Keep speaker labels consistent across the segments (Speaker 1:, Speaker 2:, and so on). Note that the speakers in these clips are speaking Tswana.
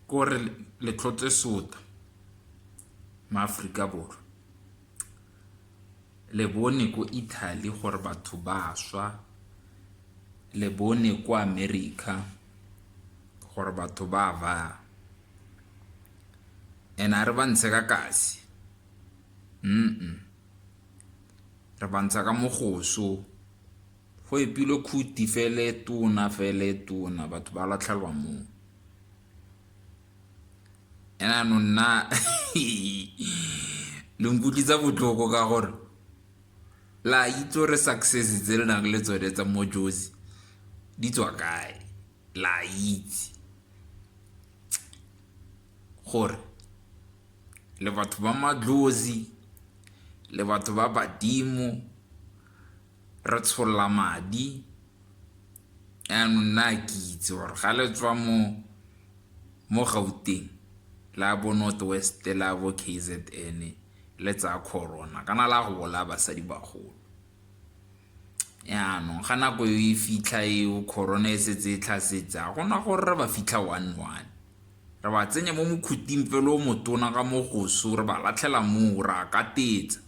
Speaker 1: kore letlhotse sota mo Afrika Borwa le bone ko Italy gore batho ba swa le bone kwa America gore batho ba ba and a re ba ntshe ka kasi mm, -mm. re bantsha ka mogoso, go epilwe khuti fela e tona fela e tona batho ba latlhelwa moo. And ano nna le nkutlwisa botlhoko ka gore la itse gore success tse le nang le tsone tsa mo Jozi di tswa kae, la itse. gore le batho ba madlozi le batho ba badimo re tsholla madi yanong nna ke itse gore ga le tswa mo mo gauteng la bo north west la bo kzn le tsaya corona kana la go bolaya basadi bagolo yanong ga nako e fitlha eo corona e setse e tlhasetse a gona gore re ba fitlha one one Re ba tsenya mo mokhuting fela o motona ka mo goso, re ba latlhela moo, re a katetsa.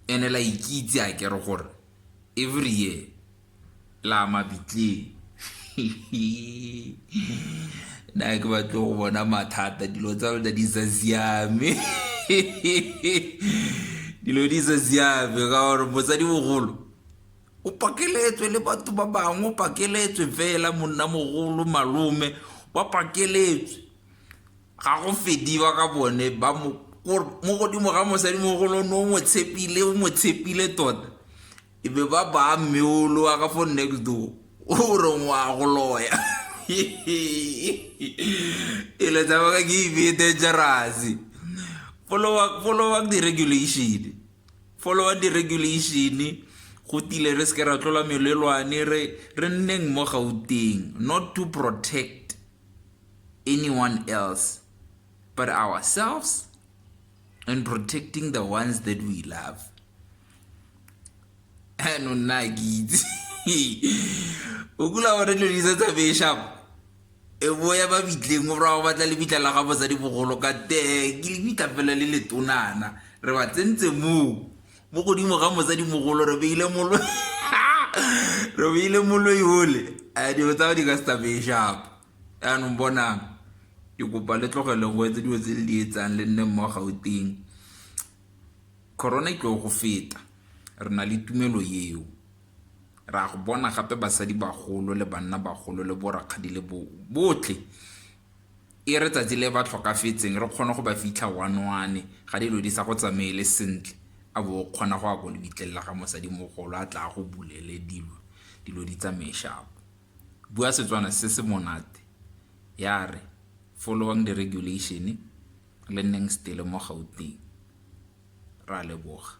Speaker 1: And-e la ikitse a kere gore every year la mabitleng. Nna ga ke batle go bona mathata, dilo tsa lona di sa siame. Dilo di sa siame ka gore mosadimogolo O pakeletswe le batho ba bangwe o pakeletswe fela monnamogolo malome ba pakeletswe ga go fediwa ka bone ba mo mo godimo ga mosadimogolo ne o mo tshepile o mo tshepile tota e be ba baya mme olo wa ka fo next door o re ngwa go loya e le tshameka ke ibe dangerous follow up the regulation. follow-a di-regulation-e go tile re seke ra tlola melelwane re re nneng mo gauteng not to protect anyone else but ourselves and protecting the ones that we love ano nna ke itse o kula gore dilo di sa tsamaye shapo e bo ya ba bitleng o bra go batla lebitla la ga bosadi bogolo ka te ke lebitla fela le letonana re ba tsentse moo mo godimo ga mosadi mogolo re beile molo re beile moloi ole a dilo tsa go di ka setabeng shapo yaanong bonang ke kopa le tlogele go etse dilo tse le di etsang le nne mmo gauteng corona e tloo go feta re na le tumelo eo Re a go bona gape basadibagolo le bannabagolo le borakgadi le bo, botlhe. E re tsatsi le ba tlhokafetseng, re kgone go ba fitlha one-one, ga dilo di sa go tsamaele sentle, a bo o kgona go ya ko lebitleng la ga mosadimogolo, a tla a go bulele dilo, dilo di tsamaye shapo. Bua Setswana se se monate, ya re, Followang di-regulation, le nneng stele mo Gauteng. Ra leboga.